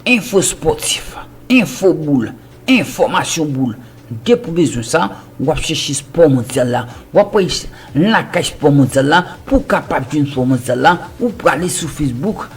Info sportif, info boul, information boul, depi w bezwen sa, wap chèche sport mondial la, wap wè lakay sport mondial la, pou w kapab jwenn sport mondial la, ou prale sou Facebook,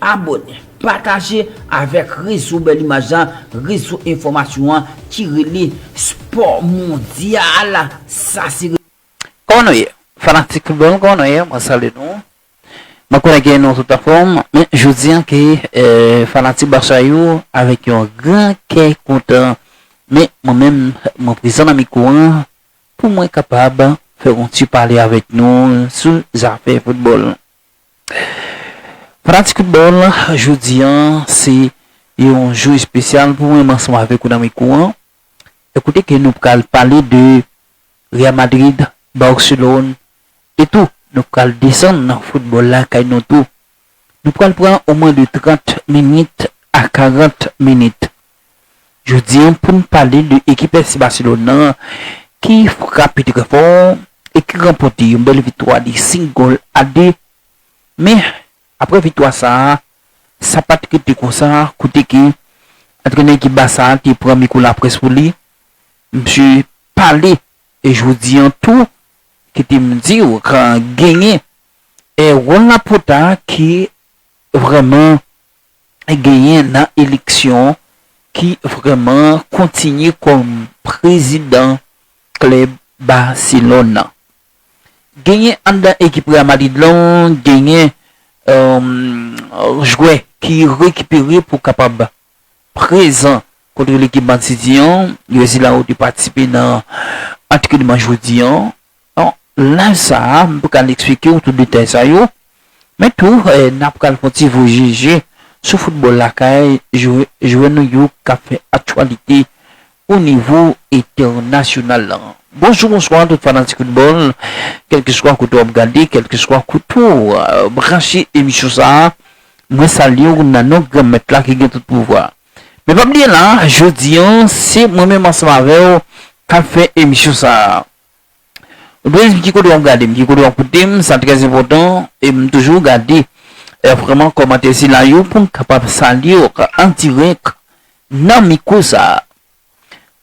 Abone, pataje avèk rezo bèl imaj la, rezo enfòmasyon an ki rele spò mondyal, sa se. Kòman nou ye? Fanatik foutbòl kòman nou ye? Mwen salye nou. Mwen konnen ke nou tout anfòm, men je di an ke fanatik Barça yo avèk yon gran kè kontan, men mwen menm mwen prezan nan mikwo an pou mwen kapab fè yon ti pale avèk nou sou zafè foutbòl. Fanatik foutbòl, jodi a se yon jou espesyal pou mwen, m ansanm avèk ou nan mikwo an. E kote ke nou pral pale de Real Madrid, Barcelone e tou nou pral desann nan foutbòl lakay nou tou. Nou pral pran o mwen de 30 minit a 40 minit. Jodi an pou n pale de ekip FC Barcelone nan ki frape trè fò e ki ranpòte yon bèl viktwa de 5 gòl a 2. Men, aprè viktwa sa a, sa pa t rete konsa kote ke antrenè ekip Barça a te pran mikwo laprès pou li. Msye pale jodi an tou, kite m di w genyen Juan Laporta ki vrèman genyen nan eleksyon ki vrèman kontinye kòm prezidan klèb Barcelone nan. Genyen anndan ekip Real Madrid lan genyen jwè ki rekipere pou kapab prezan kontre lekip Man City an, jwè sila yo te patisipe nan antrenman jodi an. Nan laj sa a, m pral eksplike w tout detay sa yo, men tou n ap pral fon ti voye je sou foutbòl lakay, jwè nou yo k ap fè aktyalite o nivo entènasyonal lan. Bonjou bonswa tout fanatik foutbòl, kèlkeswa kote w ap gade, kèlkeswa kote w branche emisyon sa a, mwen salye w nan non Granmèt la ki gen tout pouvwa. Men pa bliye la, jodi an, se mwen menm ansanm avè w k ap fè emisyon sa a. Ou dwe di m ki kote wap gade m, ki kote wap koute m, sa trè enpòtan e m toujou gade vrèman kòmantè sila yo pou m kapab salye w an dirèk nan mikwo sa.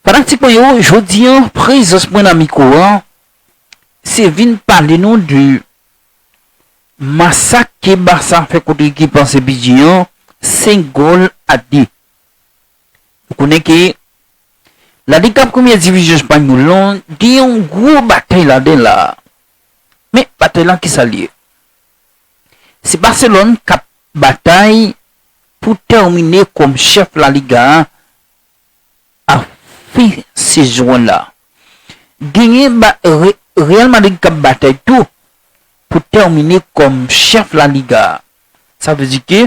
Fanatik mwen yo, jodi an prezans mwen nan mikwo an se vin pale nou de masak ke Barça fè kont ekip an Sevilje an 5 gòl a 2. Nou konnen ke La Ligue kap premye divizyon espanyòl lan gen yon gwo batèy ladan l la. Men batèy lan kisa l ye? Se Barcelone kap batay pou tèmine kòm chèf La Liga a a fen sezon an la. Genyen Real Madrid kap batay tou pou tèmine kòm chèf La Liga a. Sa vle di ke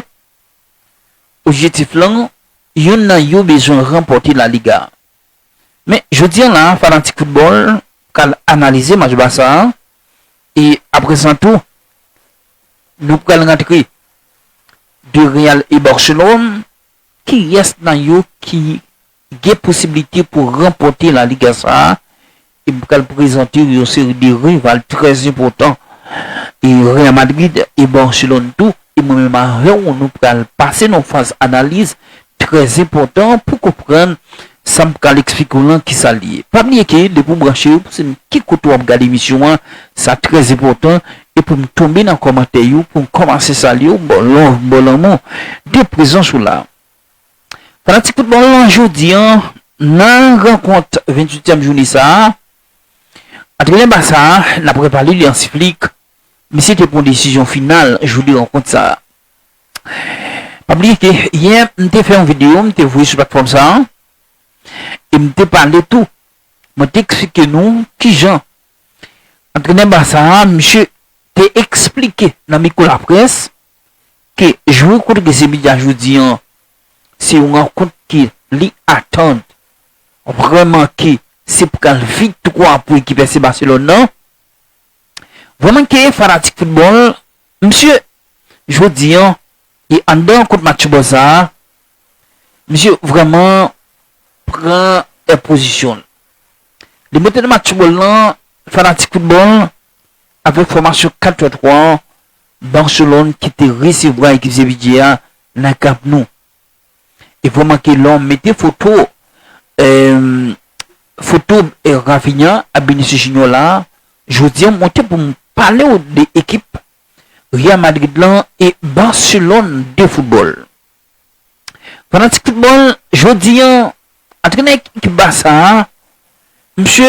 Objektif lan, youn nan yo bezwen ranpòte La Liga. Men, jodi an la a, fanatik foutbòl pral analize match Barça a e aprè sa tou, nou pral rantre de Real e Barcelone, kiyès nan yo ki gen posiblite pou ranpòte La Liga sa a e m pral prezante w yon seri de rival trè enpòtan e Real Madrid e Barcelone tou e mwen menm avè w nou pral pase nan yon faz analiz trè enpòtan pou w konprann sa m pral eksplike w lan kisa l ye. Pa bliye ke depi w branche pou w se m ki kote w ap gade emisyon an sa trè enpòtan e pou m tonbe nan kòmantè yo pou m kòmanse salye w m ba w love m ba w lanmou de prezans ou la. Pandan ti kout bal lan jodi an nan rankont 28 tièm joune sa a, antrenè Barça a nap repale li Hansi Flick, misye te pran desizyon final jou 2 rankont sa a. Pa bliye ke yè m te fè yon video m te voye sou platfòm sa a e m te pale tou, mwen te eksplike nou kijan antrenè Barça a misye te eksplike nan mikwo laprès Ke jou renkontre Zebida jodi an, se yon rankont ke li atann vrèman ke se pral viktwa pou ekip FC Barcelone nan. Vrèman ke fanatik foutbòl, msye, jodi an, e anndan rankont match bò sa a, msye vrèman pran è pozisyon l. Li monte nan match bòl lan, fanatik foutbòl, avèk fòmasyon 4-3-3 an, Barcelone ki te resevwa ekip Sevilla a nan Camp Nou. E vrèman ke lè w mete foto foto Raphinha ak Vinicius Junior la a, jodi an mwen te pou m pale w de ekip Real Madrid lan e Barcelone de foutbòl. Fanatik foutbòl, jodi an antrenè ekip Barça a, misye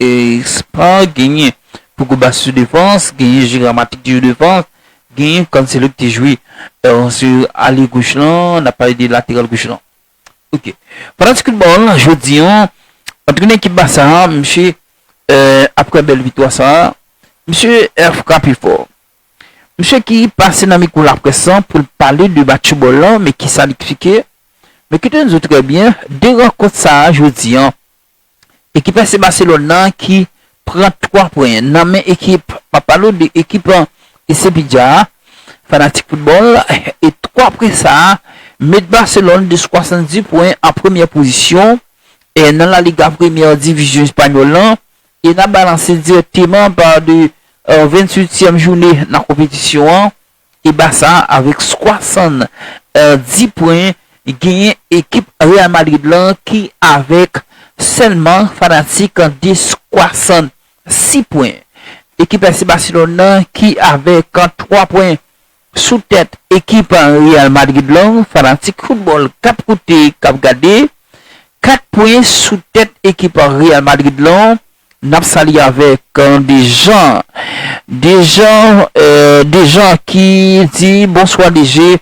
Espa, genyen Pogba sou defans, genyen Gerard Matic ki jwe defans, genyen Cancelo ki te jwe sou alye goch lan, n ap pale de lateral goch lan. Ok. Fanatik foutbòl, jodi an, antrenè ekip Basa a, misye, aprè bèl viktwa sa a, misye frape fò. Misye ki pase nan mikwo laprès lan pou l pale de match foutbòl lan, men ki sa l eksplike, Men kite n di w trè byen, de rankont sa a jodi an, Ekip FC Barcelone nan ki pran 3 pwen nan men ekip map pale w de ekip Sevilla a fanatik football e 3 pwen sa met Barcelone de 70 pwen an premyè pozisyon nan La Liga premyè divizyon espanyòl lan e nap balanse direkteman pa de 28 tièm joune nan konpetisyon an. E Barça avèk 70 pwen genyen ekip Real Madrid lan ki avèk sèlman fanatik 66 pwen. Ekip FC Barcelone nan ki avèk 3 pwen sou tèt ekip Real Madrid lan, fanatik foutbòl kap koute kap gade, 4 pwen sou tèt ekip Real Madrid lan N ap salye avèk Dejan Dejan Dejan ki di bonswa DG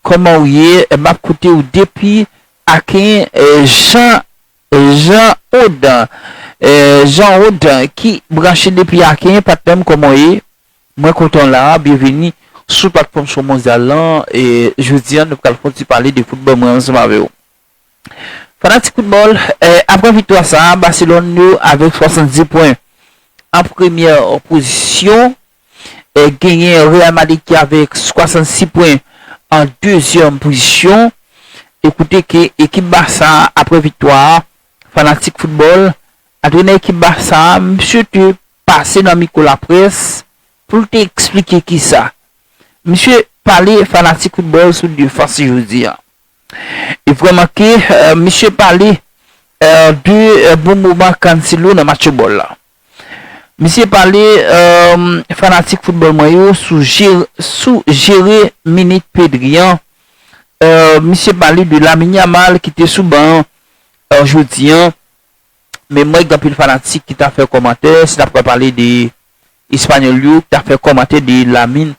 kòman ou ye m ap koute ou depi Aken Jan Jan Od Jan Od ki branche depi Aken patnè m kòman w ye mwen kontan w la byenveni sou platfòm Spòmondyal lan jodi an nou pral fon ti pale de foutbòl mwen ansanm avè w. Fanatik football, aprè viktwa sa a Barcelone yo avèk 70 pwen an premyè pozisyon, genyen Real Madrid ki avèk 66 pwen an dezyèm pozisyon, e kote ke ekip Barça a aprè viktwa a, fanatik football, antrenè ekip Barça a misye te pase nan mikwo laprès pou l te eksplike kisa. Misye pale fanatik football sou defans li jodi a. E vre manke misye pale de bon moman Cancelo nan match football la. Misye pale fanatik football mwen yo sou jere minit Pedri an. Misye pale de Lamine Yamal ki te sou ban an jodi an. Men mwen gen anpil fanatik ki ta fè kòmantè si n ap pral pale de Espanyòl yo ki ta fè kòmantè de Lamine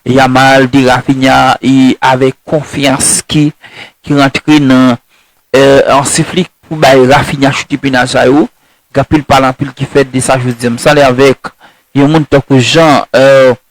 Yamal, de Raphinha e avèk konfyans ki rantre nan Hansi Flick pou bay Raphinha choute penal sa yo. Gen anpil pale anpil ki fèt de sa jodi a. M salye avèk yon moun tankou Jean.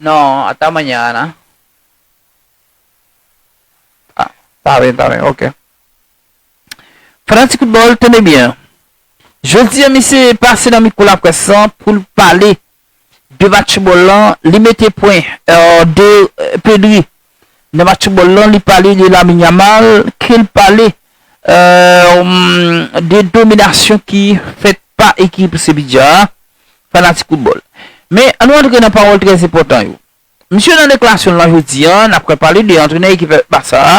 Non, ata manyan Ana. Ta byen, ta byen, ok. Fè nan ti kout bòl, tande byen. Jodi an misye pase nan mikwo laprès lan pou l pale de match fubòl lan, li mete pwen, de Pedri Nan match football lan li pale de Lamine Yamal kel pale de dominasyon ki fèt pa ekip Sevilla a, fanatik football. Men an nou antre nan pawòl trè enpòtan yo. Misye nan deklasyonl lan jodi a nap ka pale de antrenè ekip Barça a,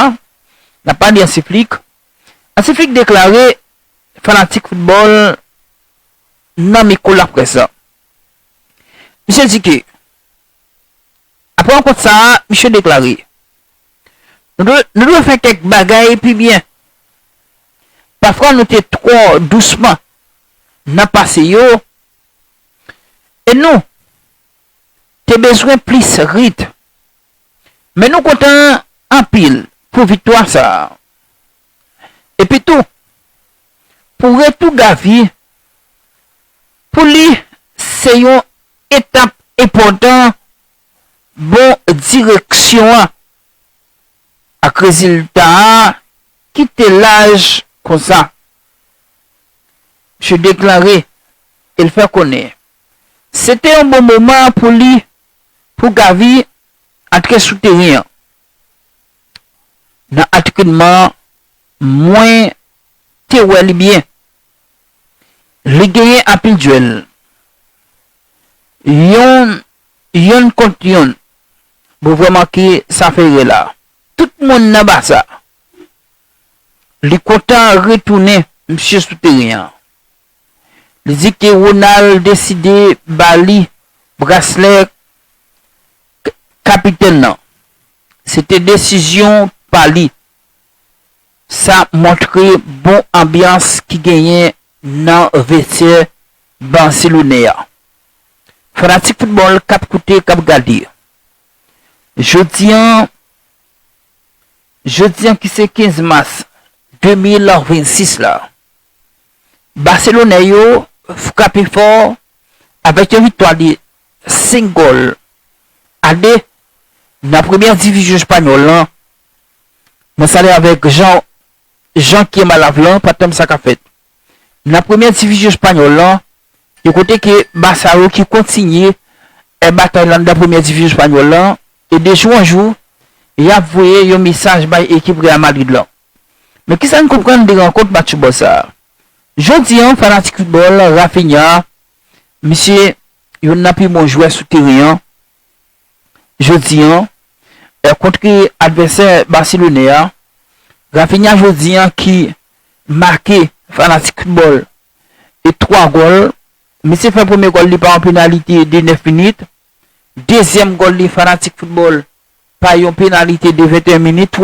nap pale de Hansi Flick. Hansi Flick deklare fanatik football nan mikwo laprès la. Misye di ke Apre rankont sa a, misye deklare, Nou dwe fè kèk bagay pi byen. Pafwa nou te twò dousman nan pase yo e nou te bezwen plis rit. Men nou kontan anpil pou viktwa sa a. Epitou, pou retou Gavi, Pou li, se yon etap enpòtan bon direksyon an ak rezilta a ki te laj konsa. Misye deklare e l fè konnen se te yon bon moman pou li pou Gavi antre sou teren an nan antrenman mwen te wè li byen Li genyen anpil duel yon yonn kont yonn mwen vreman ki sa Ferre la tout moun nan Barça li kontan retounen misye sou teren an li di ke Ronald deside ba li braslè kapitèn nan se te desizyon pa li. Sa montre bon anbyans ki genyen nan vestyè Barcelone an. Fanatik foutbòl k ap koute, k ap gade, jodi an, jodi an ki se 15 mas 2026 la, baselonè yo frape fò avèk yon viktwa de 5 gòl a 2 nan premyè divizyon espanyòl lan Mwen salye avèk Jean Jean ki anba lav lan pa tanm sa ka fèt nan premyè divizyon espanyòl lan yon kote ke Barça yo ki kontinye è batay lan nan premyè divizyon espanyòl lan e de jou an jou yap voye yon mesaj bay ekip Real Madrid lan. Men kisa n konprann de rankont match foutbòl sa a? Jodi an fanatik foutbòl Raphinha misye yonn nan pi bon jwè sou teren an. jodi an kontre advèsè baselone a, Raphinha jodi an ki make fanatik foutbòl e 3 gòl, misye fè premye gòl li pa yon penalite de 9 minit, dezyèm gòl li fanatik foutbòl pa yon penalite de 21 minit,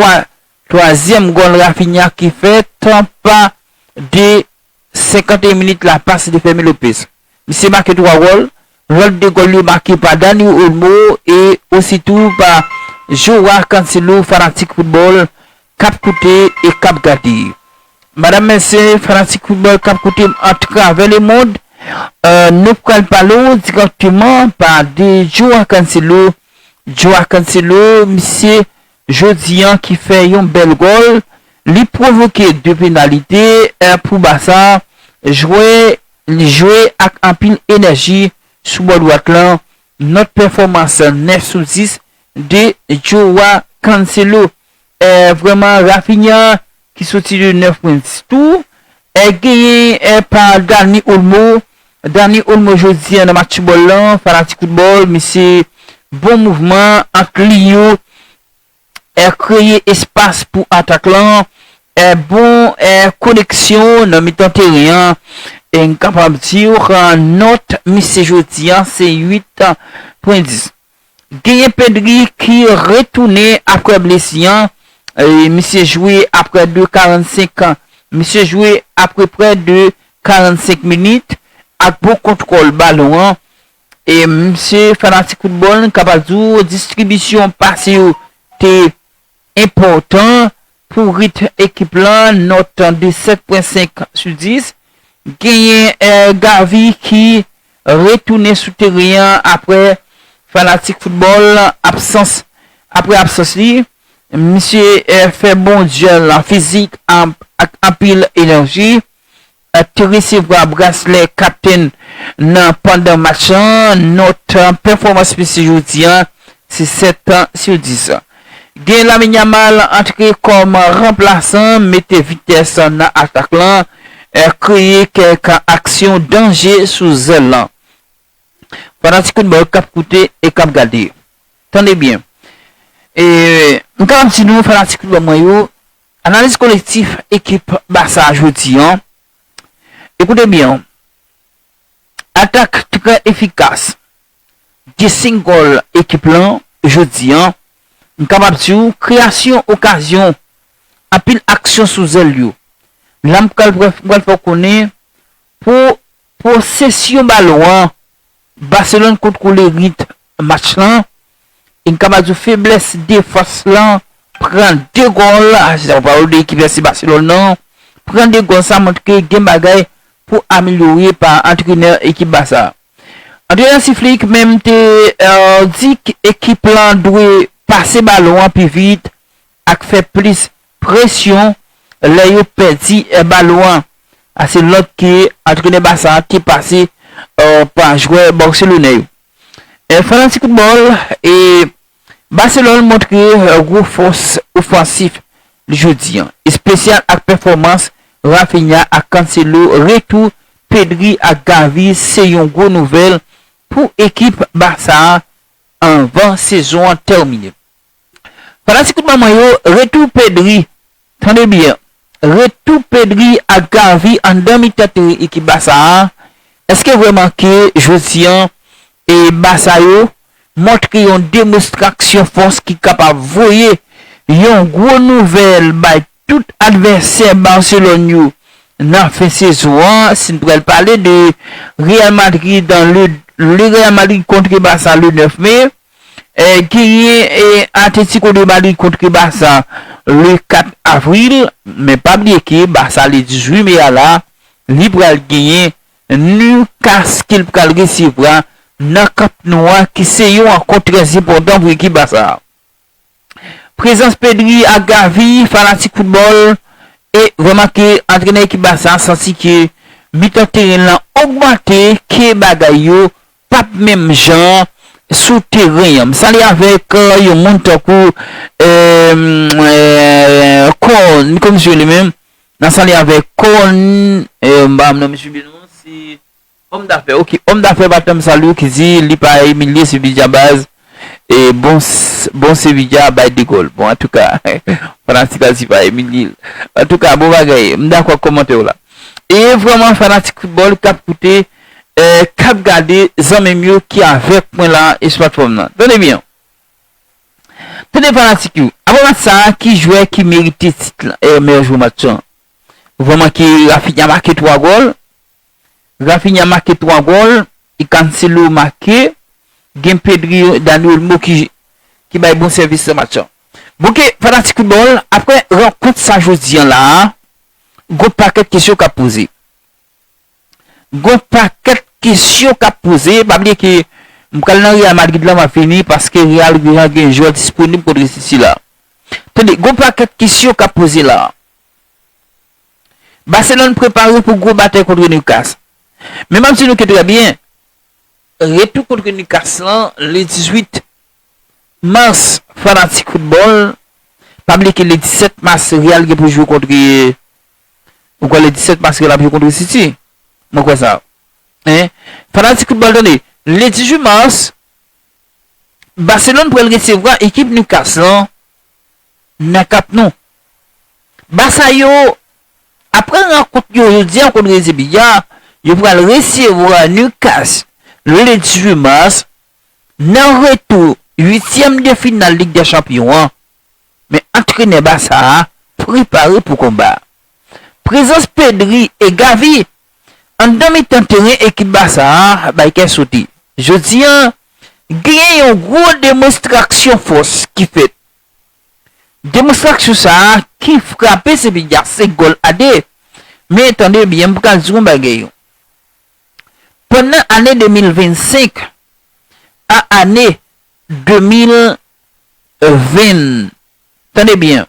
twazyèm gòl Raphinha ki fè tan pa de 51 minit la pase de Fermin Lopez. Misye make 3 gòl, lòt 2 gòl yo make pa Dani Olmo e ositou pa Joao Cancelo fanatik foutbòl K ap koute e k ap gade. Madam mèsye fanatik foutbòl k ap koute m atravè lemond, nou pral pale w dirèkteman pa de Joao Cancelo. Joao Cancelo, misye jodi an ki fè yon bèl gòl, li pwovoke 2 penalite pou Barça. Jwè li jwe ak anpil enèji sou bò dwat lan. Nòt pèfòmans 9 sou 10 de Joao Cancelo. eh vrèman Raphinha ki soti de Neufprince tou eh genyen eh pa Dani Olmo Dani Olmo jodi nan match foutbòl lan fanatik foutbòl misye bon mouvman ant liy yo eh kreye espas pou atak lan eh bon eh koneksyon nan mitan teren an eh m kapab diw nòt misye jodi se 8 pwen 10. Genyen Pedri ki retounen aprè blesi an, misye jwe aprè de 45 an, misye jwe apreprè de 45 minit ak bon kontwòl balon an, e misye fanatik foutbòl kapab di w distribisyon pase yo te Enpòtan pou ritm ekip lan, nòt 7.5 sou 10. Genyen Gavi ki retounen sou teren an aprè fanatik foutbòl absans aprè absans li. Misye fè bon djyèl fizik ak anpil enèji. Te resevwa braslè kaptenn nan pandan match lan, nòt pèfòmans misye jodi an se 7 sur 10. Gen Lamine Yamal antre kòm ranplasan, mete vitès nan atak lan, kreye kèk aksyon danje sou zèl lan. Fanatik football kap koute e kap gade, tande byen e m kapab di nou fanatik football mwen yo, Analiz kolektif ekip Basa jodi an, ekoute byen w, Atak trè efikas, gen 5 gòl ekip lan jodi an, m kapab di w kreyasyon okazyon, anpil aksyon sou zèl yo. La m pral fè w konnen pou Posesyon balon an, Barcelone kontwole rit match lan e n kapab di w feblès defans lan pran 2 gòl, se sa w pa wè 2 ekip la se Barcelone nan, pran 2 gòl sa montre gen bagay pou amelyore pa antrenè ekip Barça a. Antrenè Hansi Flick menm te di ekip lan dwe pase balon an pi vit ak fè plis Presyon lè yo pèdi balon an a se nòt ke antrenè Barça a te pase ba jwè Barcelone yo. Fanatik football e Barcelone montre gwo fòs ofansif li jodi an, espesyal ak pèfòmans Raphinha ak Cancelo, retou Pedri ak Gavi se yon gwo nouvèl pou ekip Barça a anvan sezon an tèmine. Fanatik kout manman yo retou Pedri tande byen retou Pedri ak Gavi anndan mi tèt ekip Basa a eske vrèman ke jodi an e Basa yo montre yon demostraksyon fòs ki kapab voye yon gwo nouvèl bay tout advèsè Barcelone yo nan fen sezon an si n pral pale de Real Madrid le Real Madrid kontre Basa le 9 mai. Genyen Atlético de Madrid kontre Barça le 4 avril, men pa bliye ke Barça le 18 me a la, li pral genyen Newcastle ke li pral resevwa nan Camp Nou a ki se yon rankont trè enpòtan pou ekip Barça a. Prezans Pedri ak Gavi, fanatik foutbòl e vrèman ke antrenè ekip Barça a santi ke mitan teren lan ogmante ke bagay yo Pap menm jan sou teren an. M sali avèk yon moun tankou Corn kòm si yo li menm. Nan sali avèk Corn m pa nan misye byen non se Homme d'affaires ok Homme d'affaires pa tanm sali w ki di li pa imilye se bidjabaz. E bon bon sevilla bay de gol bon antouka fanatik la di pa Emilil antouka bon bagay m dakò ak kòmantèw la e vrèman fanatik foutbòl kap koute kap gade zanmim yo ki avèk mwen la e sou platfòm nan tande byen tande fanatik yo aprè match sa ki jwè ki merite tit meyè jwè match lan vrèman ke Raphinha make 3 gòl Raphinha make 3 gòl e Cancelo make, gen Pedri, Dani Olmo ki bay bon sèvis nan match lan. Bon ke fanatik foutbòl, aprè rankont sa jodi an la a, gon pakèt kesyon k ap poze. Gon pakèt kesyon k ap poze, pa bliye ke m pral nan Real Madrid la m ap vini paske Real deja gen jwè disponib kontre City la. Tande, gon pakèt kesyon k ap poze la a. Barcelone prepare pou gwo batay kontre Newcastle. Men map di nou ke trè byen, retou kontre Newcastle lan le 18 Mars fanatik football pa bliye ke le 17 Mars Real gen pou jwe kontre ou kwè le 17 Mars Real ap jwe kontre City? Mwen kwè sa hein fanatik football tande le 18 Mars Barcelone pral resevwa ekip Newcastle lan nan kap nou. Basa yo, apre rankont yo jodi a kont Rezi Biya, yo pral resevwa Nukas lendi 18 mas nan retou uityèm de final Lig dè Chanpyon an. Men antrenè Basa a prepare pou konba. Prezans Pedri e Gavi anndan mitan teren ekip Basa a bay kè sote. Jodi a, genyen yon gwo demonstraksyon fòs ki fèt Demonstraksyon sa a ki frape Sevilla se gòl a 2. Men tande byen m pral di w yon bagay yo. Pandan ane 2025 a ane 2020 tande byen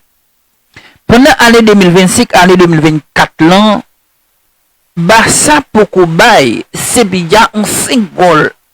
pandan ane 2025 a ane 2024 lan Barça poko bay Sevilla yon 5 gòl.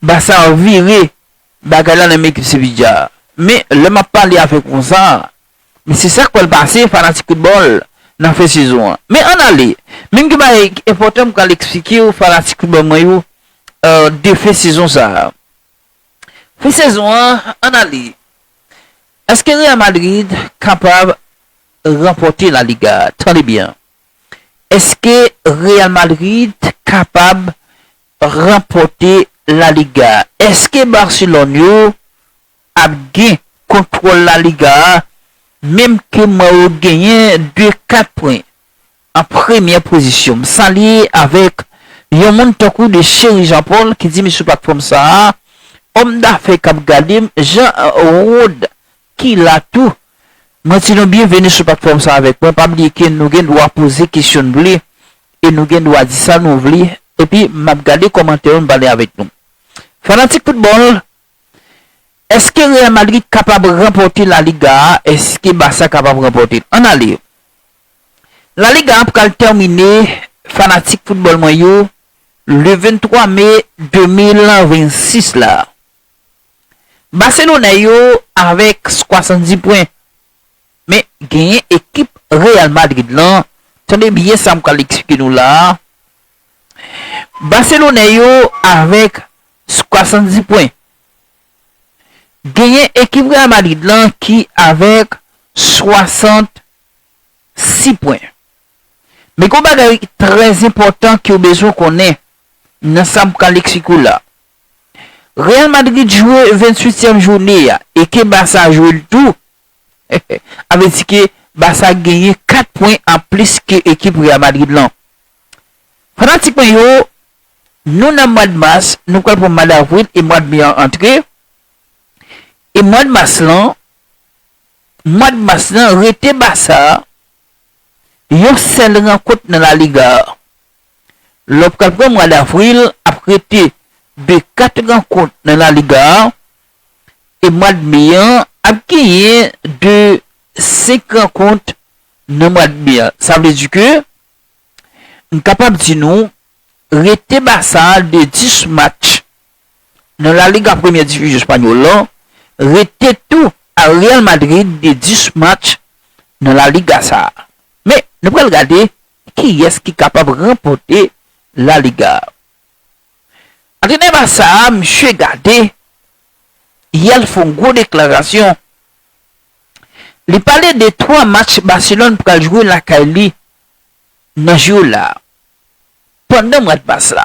Bassar vire bagay la nan men ekip Sevilla a. Men, lè m ap pale avèk ou konsa a, men se sa k pral pase fanatik foutbòl nan fen sezon an. Men ann ale, men gen bagay enpòtan m pral eksplike ou fanatik foutbòl mwen yo de fen sezon sa a. Fen sezon an, ann ale, èske Real Madrid kapab ranpòte La Liga a? Tande byen, èske Real Madrid kapab ranpòte La Liga a. Eske Barcelone yo ap gen kontwòl La Liga a menm ke mwen yo genyen de 4 pwen an premyè pozisyon. M salye avèk yon moun tankou de Chery Jean Paul ki di m sou platfòm sa a, òm dafè k ap gade m, Jean Rod ki la tou. Mwen di nou byenveni sou platfòm sa avèk mwen, pa bliye ke nou gen dwa poze kesyon nou vle e nou gen dwa di sa nou vle epi m ap gade kòmantè yo m pale avèk nou. Fanatik foutbòl, Eske Real Madrid kapab ranpòte La Liga a? Eske Barça kapab ranpòte l? Ann ale! La Liga a pral tèmine fanatik foutbòl mwen yo le 23 me 2026 la. Baselonè yo avèk 70 pwen, men genyen ekip Real Madrid lan, tande byen sa m pral eksplike nou la a, Baselonè yo avèk 70 pwen, genyen ekip Real Madrid lan ki avèk 66 pwen. Men gen yon bagay trè enpòtan ke w bezwen konnen nan sa m pral eksplike w la a. Real Madrid jwe 28 tièm joune a e ke Barça jwe l tou a vle di ke Barça genyen 4 pwen an plis ke ekip Real Madrid lan. Fanatik mwen yo nou nan mwad Mars nou pral pran mwad Avril e mwad Me an antre e mwad Mars lan mwad Mars lan rete Barça yon sèl rankont nan La Liga a Lòp kap gen mwa davril ap rete de 4 rankont nan La Liga a e mwad me an ap genyen de 5 rankont nan mwad me a. Sa vle di ke m kapab di nou rete Barça de 10 match nan La Liga premyè divizyon espanyòl lan rete tou a Real Madrid de 10 match nan La Liga sa. Men nou pral gade Kiyès ki kapab ranpòte La Liga? Antrenè Barça a, misye gade, yè l fè yon gwo deklarasyon. Li pale de 3 match Barcelone pral jwe lakay li nan jou la, pandan mwad mas la.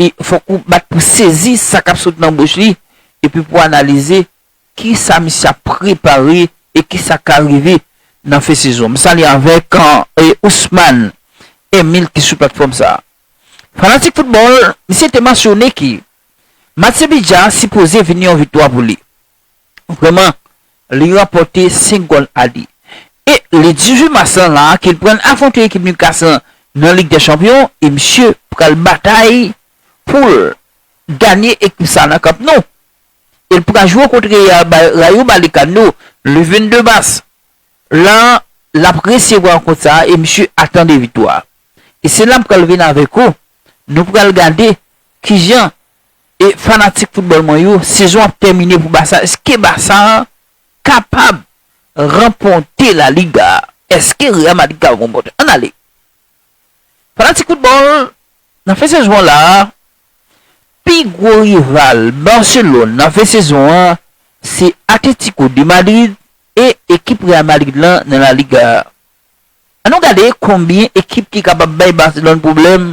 E fòk ou bat pou sezi sa k ap sot nan bouch li epi pou analize ki sa misye ap prepare e ki sa k ka rive nan fen sezon. M salye avèk Ousmane Emile ki sou platfòm sa a. Fanatik foutbòl, misye te mansyone ke match Sevilla sipoze vini yon viktwa pou li. Vrèman, li ranpòte 5 gòl a 2. E le 18 mas lan la ke l pral afwonte ekip Newcastle lan nan Lig dè Chanpyon e misye pral batay pou l ganye ekip sa nan Camp Nou e l pral jwe kont Real Rayo Vallecano le 22 mas lan l ap resevwa rankont sa e misye atan 2 viktwa. E se la m pral vin avèk ou, nou pral gade kijan e fanatik football mwen yo sezon ap tèmine pou Barça eske Barça kapab ranpòte la Liga eske Real Madrid kapab ranpòte ann ale fanatik football nan fen sezon an la pi gwo rival Barcelone nan fen sezon an se Atletico de Madrid e ekip Real Madrid lan nan la Liga an nou gade konbyen ekip ki kapab bay Barcelone pwoblèm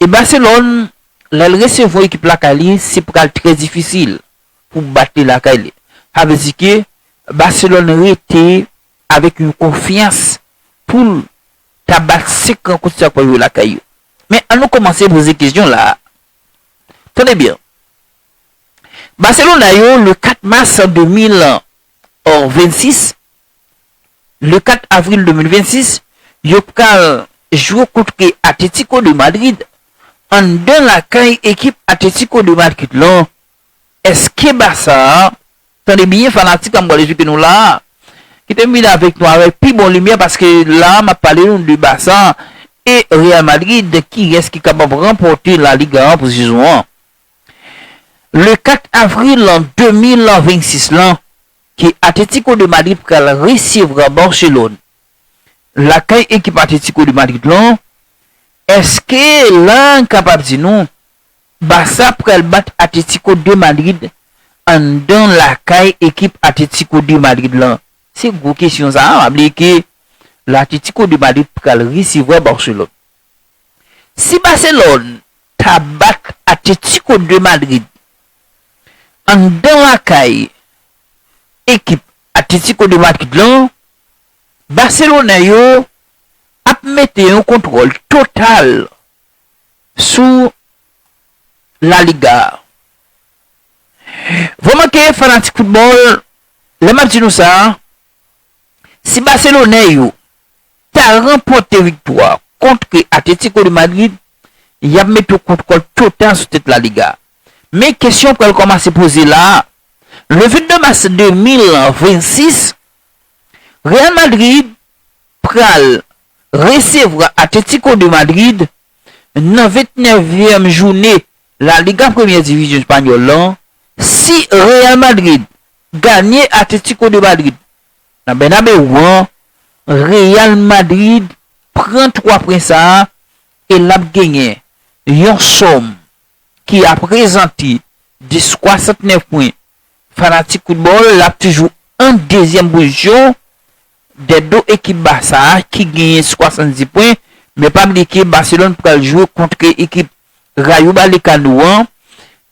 E Barcelone lèl resevwa ekip lakay li se pral trè difisil pou bat li lakay li. Sa vle di ke Barcelone rete avèk yon konfyans poul ta bat 5 rankont sa yo pral jwe lakay yo. Men an nou kòmanse poze kesyon la a. Tande byen. Barcelona yo le 4 mars 2026 le 4 avril 2026, yo pral jwe kontre Atlético de Madrid anndan lakay ekip Atlético de Madrid lan. Eske Barça, tande byen fanatik a m pral esplike nou la a, kite m vini avèk nou avèk pi bon limyè paske la a m ap pale nou de Barça e Real Madrid kiyès ki kapab ranpòte La Liga an pou sezon an. Le 4 avril 2026 lan, ke Atletico de Madrid pral resevra Barcelone lakay ekip Atletico de Madrid lan, eske la n kapab di nou Barça pral bat Atletico de Madrid anndan lakay ekip Atletico de Madrid lan? Se gwo kesyon sa a, map di ke la Atletico de Madrid pral resevwa Barcelone. Si Barcelone ta bat Atletico de Madrid. Anndan lakay ekip Atlético de Madrid lan, baselonè yo ap mete yon kontwòl total sou La Liga a. Vrèman ke fanatik foutbòl, lè m ap di nou sa, si baselonè yo ta ranpòte viktwa kontre Atlético de Madrid, y ap mete yon kontwòl total sou tèt La Liga. Men, kesyon pral kòmanse poze la a, le 22 mas 2026, Real Madrid pral resevwa Atlético de Madrid nan 29 vyèm joune La Liga premyè divizyon espanyòl lan. Si Real Madrid ganye Atlético de Madrid Nan Bernabeu an, Real Madrid pran 3 pwen sa a e l ap genyen yon sòm ki aprezante 10,69 pwen. Fanatik foutbòl l ap toujou an dezyèm pozisyon dè do ekip Barça a ki genyen 70 pwen, men pa bliye ke Barcelone pral jwe kontre ekip Rayo Balekano an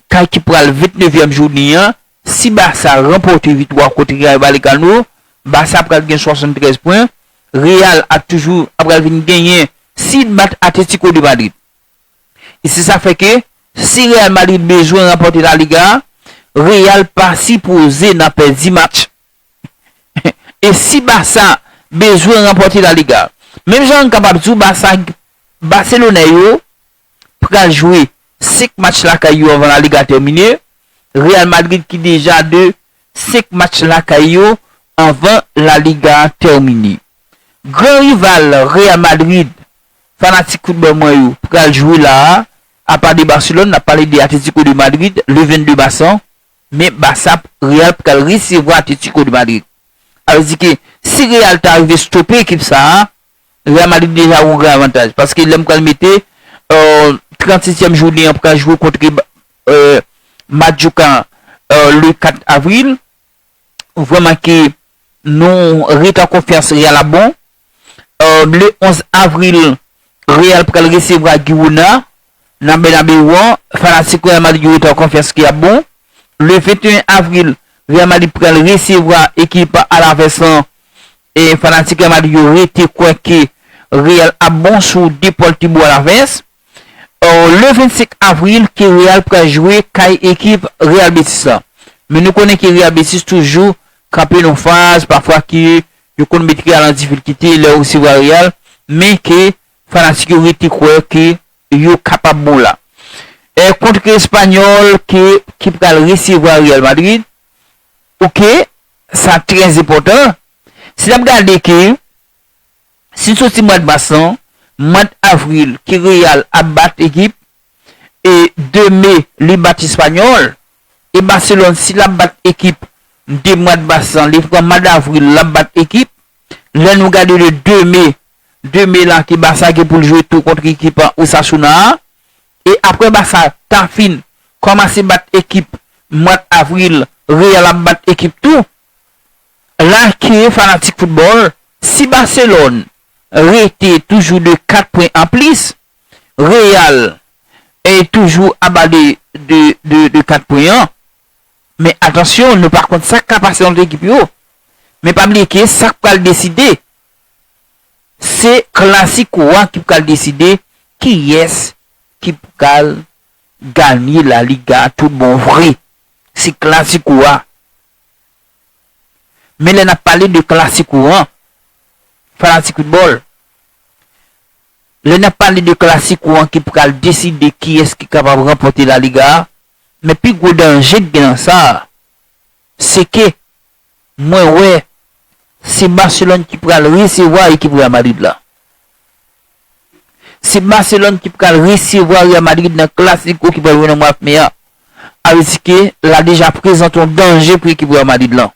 kay ki pral 29 vyèm jounen an Si Barça ranpòte viktwa kont Rayo Vallecano, Barça pral gen 73 pwen, Real ap toujou ap pral vin genyen si l bat Atlético de Madrid. E se sa k fè ke si Real Madrid bezwen ranpòte La Liga a, Real pa sipoze nan pèdi match. E si Barça bezwen ranpòte La Liga, menm jan n kapab di w Barça, Baselonè yo pral jwe 5 match lakay yo anvan La Liga tèmine. Real Madrid ki deja 2 5 match lakay yo anvan La Liga tèmine. Gran rival Real Madrid fanatik foutbòl mwen yo pral jwe la a, apa de Barcelone n ap pale de Atlético de Madrid le 22 mas an, men Barça Real pral resevwa Atlético de Madrid. Sa vle di ke si Real ta rive stope ekip sa a, Real Madrid deja gen yon gran avantaj paske lè m pral mete 36 tièm jounen an pral jwe kontre Majorca le 4 avril ou vè manke nou ret an konfyans Real ap bon le 11 avril Real pral resevwa Girona nan Bernabeu an fanatik Real Madrid yo ret an konfyans ke yap bon le 21 avril Real Madrid pral resevwa ekip Alaves lan fanatik Real Madrid yo rete kwè ke Real ap bon sou Deportivo Alavés le 25 avril ke Real pral jwe kay ekip Real Betis la. Men nou konnen ke Real Betis toujou kanpe nan yon faz pafwa ke yo konn met Real an difilkite lè yo resevwa Real men ke fanatik yo rete kwè ke yo kapab bon la. Kont ki Espanyòl ki pral resevwa Real Madrid Ok sa trè enpòtan si nap gade ke si soti mwad mas lan mwad avril ki real ap bat ekip e 2 me li bat espanyòl e baselòn si lap bat ekip de mwad mas lan li pran mwad avril lap bat ekip lè nou gade le 2 me 2 me la ke barça gen poul jwe tou kontre ekip osasuna a E aprè Barça ta fin kòmanse bat ekip mwad Avril Real ap bat ekip tou. La ke fanatik foutbòl, si Barcelone rete toujou de 4 pwen an plis, Real toujou aba de de 4 pwen an. Men atansyon nou pa konn sak ka pase ant ekip yo. Men pa bliye ke sak pral deside Se Clasico a ki pral deside kiyès ki pral ganye La Liga tout bon vre. Se Clasico a. Men lè n ap pale de Clasico an, fanatik foutbòl, lè n ap pale de Clasico an ki pral deside kiyès ki kapab ranpòte La Liga a, men pi gwo danje ki gen nan sa a, se ke mwen wè se Barcelone ki pral resevwa ekip Real Madrid la. Se Barcelone ki pral resevwa Real Madrid nan Clasico ki pral jwe nan mwap me a. A vle di ke la deja prezante yon danje pou ekip Real Madrid lan.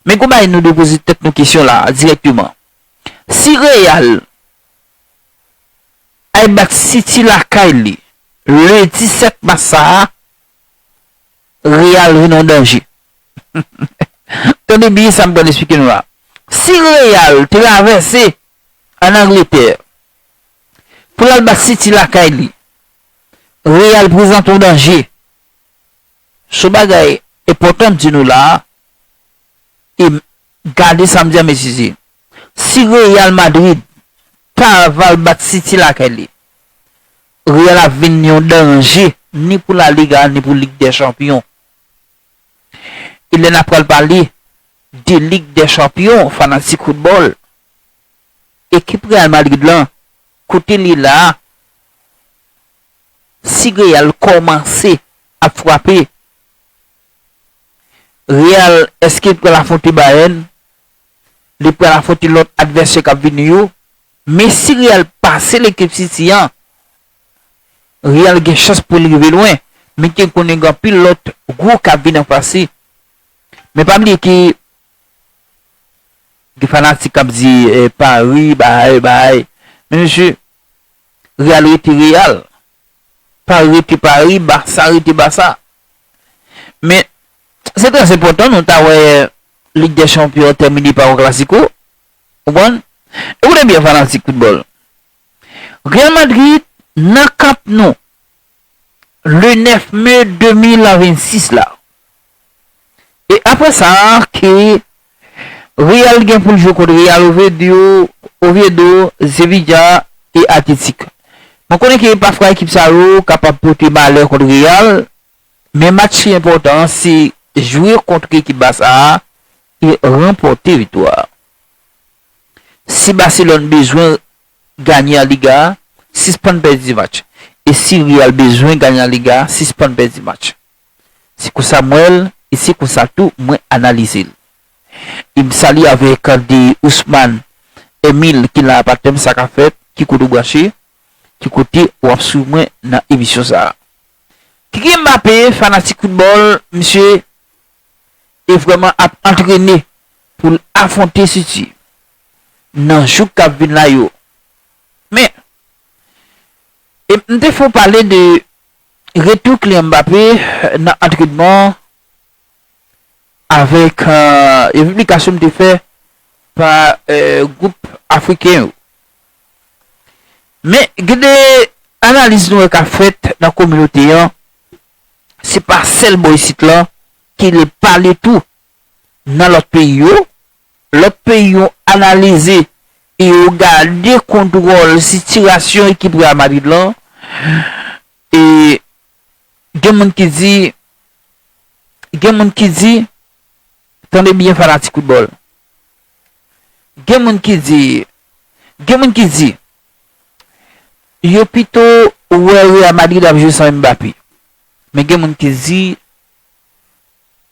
Men gon bagay nou dwe poze tèt nou kesyon la a dirèkteman. Si Real al bat City lakay li le 17 mas sa a, Real vin yon danje. Tande byen sa m pral esplike nou la. Si Real travèse an Angletè pou l al bat City lakay li, Real prezante yon danje. Son bagay enpòtan m di nou la a e gade sa m di a mezire. Si Real Madrid ta va al bat City lakay li, Real ap vin yon danje ni pou La Liga ni pou Lig dè Chanpyon. E lè n ap pral pale de Lig dè Chanpyon, fanatik foutbòl, ekip Real Madrid lan kote l ye la a, si Real kòmanse ap frape, Real èske l pral afwonte Bayern, li pral afwonte lòt advèsè k ap vini yo, Men si Real pase lekip City an, Real gen chans pou l rive lwen, men ki konnen gen anpil lòt gwo k ap vin anfas li. Men pa bliye ke gen fanatik k ap di Pari bahay bahay, men mesye Real rete Real, Pari rete Pari, Barça rete Barça. Men se trè enpòtan nou ta wè Lig dè Chanpyon an tèmine pa yon klasiko. Konprann? E koute byen fanatik foutbòl. Real Madrid nan Camp Nou le 9 me 2026 la. E aprè sa ke Real gen pou l jwe kont Real Oviedo, Oviedo, Sevilla e Athletic. Mwen konnen ke pafwa ekip sa yo kapab pote malè kont Real Men match ki enpòtan an se jwe kontr ekip Basa a e ranpòte viktwa a. Si Baselòn bezwen ganye an Liga, sispann pèdi match. E si Real bezwen ganye an Liga, sispann pèdi match. Se konsa m wè l e se konsa tou mwen analize l. E m salye avèk de Ousmane Emile ki nan apatem sa ka fèt, ki kote w branche, ki kote w ap swiv mwen nan emisyon sa a. Kylian Mbappé fanatik football misye e vrèman ap antrene poul afronte City nan jou kap vin la yo men e m te fon pale de retou Kylian Mbappé nan antrenman avèk yon piblikasyon m te fè pa gwoup afriken yo. Men gen de analiz nou wè kap fèt nan kominote an, se pa sèl bò isit lan ki le pale tou nan lòt peyi yo, lòt peyi yo analize e yo gade kontwòl sitirasyon ekip Real Madrid lan e gen moun ki di Gen moun ki di, tande byen fanatik foutbòl, gen moun ki di, gen moun ki di, yo pito wè Real Madrid ap jwe san Mbappé. Men gen moun ki di,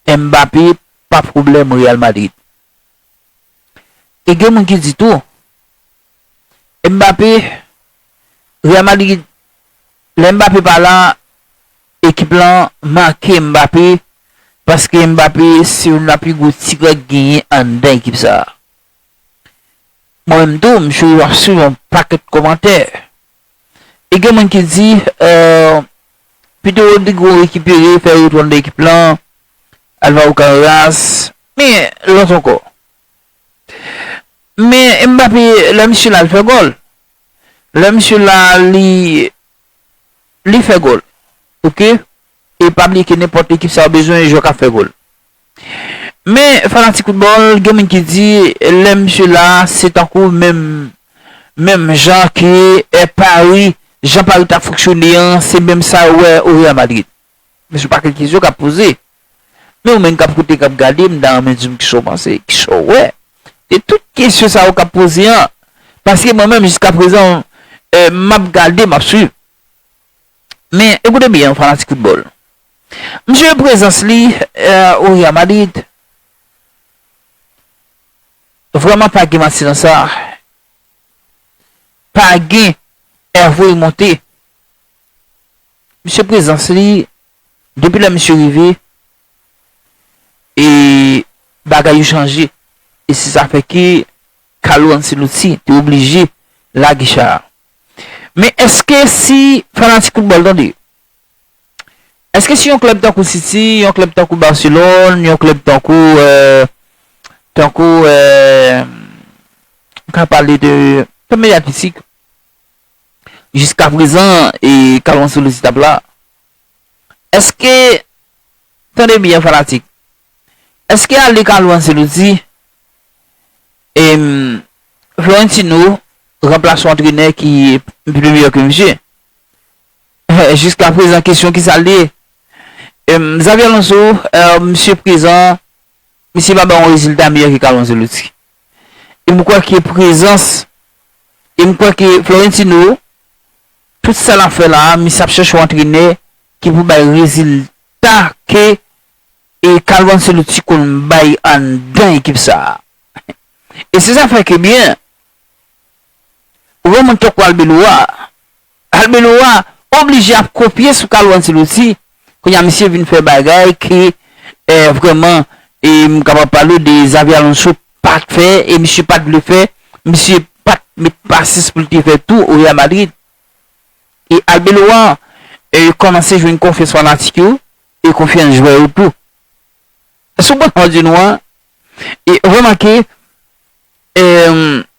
Mbappé pa pwoblèm Real Madrid. E gen moun ki di tou, Mbappé, Real Madrid Lè Mbappé pa la, ekip lan manke Mbappé paske Mbappé se youn nan pi gwo tirè k genyen anndan ekip sa. Mwen menm tou, m chou ap swiv yon pakèt kòmantè. E gen moun ki di, pito Rodrygo rekipere, fè retou anndan ekip lan, Alvaro Carreras, men lòt ankò. Men Mbappé lè misye la li fè gòl, lè misye la li li fè gòl ok e pa bliye ke nenpòt ekip sa yo bezwen jwè kap fè gòl men fanatik foutbòl gen moun ki di lè misye la se tankou menm menm jan ke Paris jan Paris tap fonksyone an se menm sa yo wè o Real Madrid. Mesye pakèt kesyon kap poze. Men ou menn kap koute kap gade mta renmen dim kisaw panse, kisaw wè de tout kesyon sa yo kap poze an paske mwen menm jiska prezan map gade map swiv. Men ekoute byen fanatik foutbòl. Misye gen prezans li o Real Madrid. Vrèman pa gen manti nan sa. Pa gen Herve Monte. Misye prezans li depi lè misye rive e bagay yo chanje e se sa fè ke Carlo Ancelotti te oblije lage cha a. Men eske si fanatik foutbòl tande, eske si yon klèb tankou City, yon klèb tankou Barcelone, yon klèb tankou tankou m ka pale de klèb medyatisik. jiska prezan e kalman sou list ap la eske tande byen fanatik eske ale kalou anseloti em florentino ranplas yon antrenè ki pi miyò ke misye jiska prezan kesyon kisa liye em xabi alonso misye prezan. Misye pa bay yon rezilta miyò ke Carlo Ancelotti. E m kwè ke prezans, e m kwè ke Florentino, tout sa l ap fè la a, misye ap chèche yon antrenè ki pou bay rezilta ke e Carlo Ancelotti konn bay anndan ekip sa a. E se sa fè ke byen, Ou wè moun tankou Arbeloa, Arbeloa oblije ap kopye sou Carlo Ancelotti, kounye a misye vin fè bagay ke vrèman e m kapab pale w de Xabi Alonso pa t fè e misye pa t vle fè, misye pa t met pasyans pou l te fè tou o Real Madrid. E Arbeloa kòmanse jwenn konfyans fanatik yo e konfyans jwè yo tou. Sou ban Madrid nou an, remake,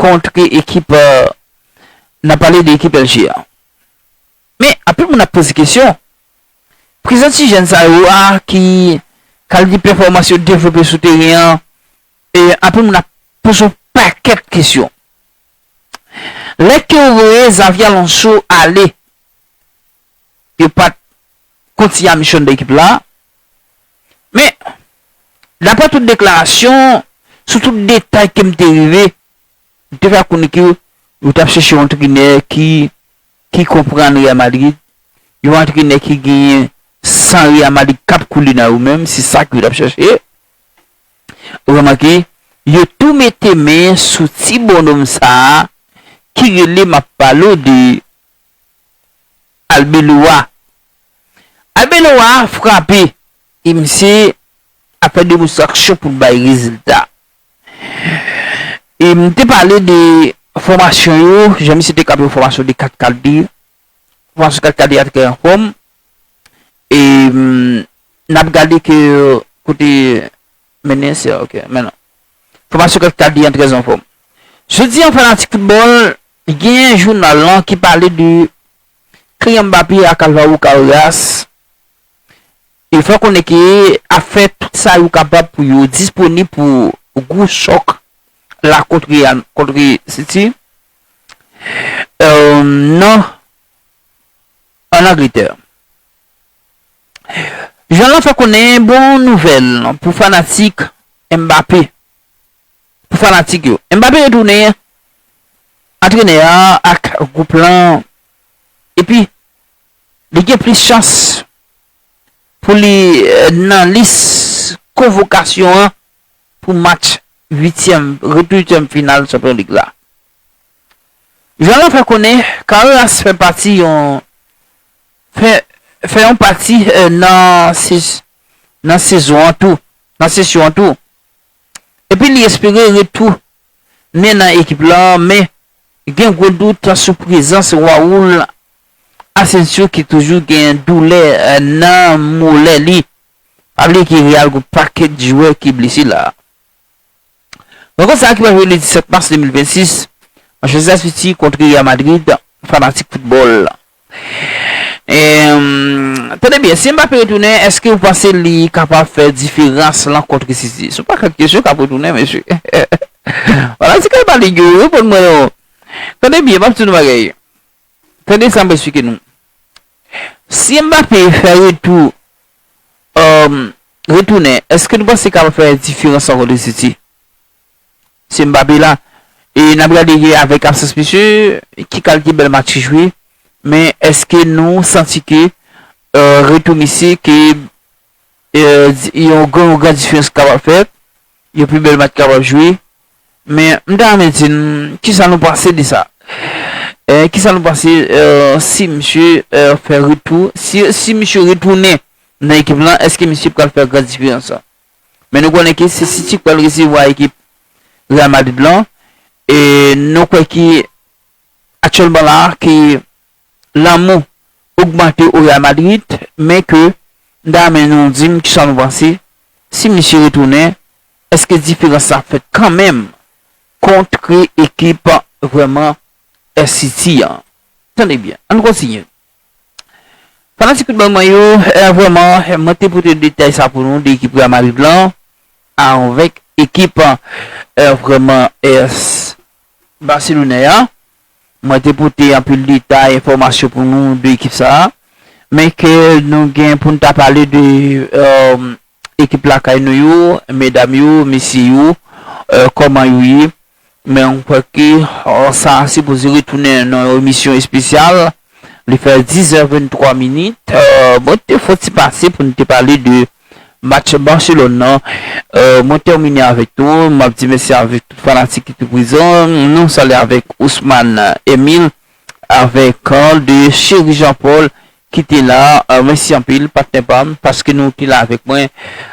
kontre ekip nan pale de ekip LG an men anpil moun ap poze kesyon prezans ti jèn sa yo a ki kalite pèfòmans yo devlope sou teren an e anpil moun ap poze yon pakèt kesyon lè ke yo voye Xavi Alonso ale yo pat kontinye a misyon nan ekip la Men, dapre tout deklarasyon, sou tout detay ke m te rive, m te fè ak konnen ke yo t ap chèche yon antrenè ki ki konprann Real Madrid, yon antrenè ki genyen san Real Madrid k ap koule nan yo menm, se sa ke yo t ap chèche. Remake, yo tou mete men sou ti bonnonm sa a ki rele m ap pale w de. Arbeloa. Arbeloa frape e misye ap fè demonstraksyon pou l bay rezilta. E m te pale de fòmasyon yo, jan misye te kab yon fòmasyon de kat kalite. Fòmasyon kat kalite a trè anfòm. E n ap gade ke kote Mennen se ok men non. Fòmasyon kèk ta di an trè anfòm. Jodi an fanatik foutbòl genyen jounal lan ki pale de Kylian Mbappé ak Alvaro Carreras e fè konnen ke ap fè tout sa yo kapab pou yo disponib pou gwo chòk la kont Real kont City nan an Angletè. Jean lan fè konnen bon nouvèl pou fanatik Mbappé pou fanatik yo Mbappé retounen antrenè a ak gwoup lan epi li gen plis chans pou li nan lis konvokasyon an pou match uityèm retou uityèm final chanpyon lig la. Jean lan fè konnen Carreras fè pati yon Fè yon pati nan sezon an tou, nan sesyon an tou. Epi li espere retou nen nan ekip la men gen gwo dout sou prezans Raul Asensio ki toujou gen doulè nan molè li. Pa bliye ke Real gen yon pakèt jwè ki blese la. Rankont sa ki pral jwe ledi 7 mas 2026, Manchester City kontre Real Madrid, fanatik foutbòl. Tande byen, si Mbappé retounen, èske ou panse li kapab fè diferans lan kontre City? Se yon pakèt kesyon k ap retounen mesye. Fanatik Real Madrid yo, reponn mwen non. Tande byen, m ap di nou yon bagay. Tande sa m ap esplike nou. Si Mbappé fè retou Humm retounen eske nou panse kapab fè diferans ankò de City? Se Mbappé la e nap gade ke avèk absans misye ki kalite bèl match li jwe men eske nou santi ke retou misye ke yon gran diferans kapab fèt yon pi bèl match kapab jwe? Men, m ta renmen di n, kisa nou panse de sa? Kisa nou panse si misye fè retou, si misye retounen nan ekip lan, èske misye pral fè gran diferans lan? Men nou konnen ke se City k pral resevwa ekip Real Madrid lan, e nou kwè ke aktyèlman la, ke Lanmou ogmante o Real Madrid men ke Dame nou dim kisa nou panse si misye retounen eske diferans la fèt kanmenm kontre ekip vrèman City an tande byen ann kontinye fanatik foutbòl mwen yo vrèman mwen te pote detay sa pou nou de ekip Real Madrid lan avèk ekip vrèman Barcelone an. Mwen te pote anpil detay, enfòmasyon pou nou de ekip sa a. Men ke nou gen pou nou ta pale de ekip lakay nou yo, medam yo, mesye yo, kòman yo ye. Men mwen kwè ke sa sipoze retounen nan yon emisyon espesyal. Li fè 10 è 23 minit, mwen te fon ti pase pou nou te pale de match Barcelone nan, mwen tèmine avèk nou, map di mèsi avèk tout fanatik ki te prezan, nou salye avèk Ousmane Emile avèk Carl de Chery Jean Paul ki te la, mèsi anpil patnè pam paske nou te la avèk mwen,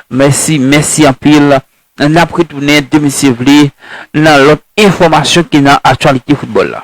mèsi mèsi anpil, nap retounen demisye vle nan lòt enfòmasyon ki nan aktyalite foutbòl la.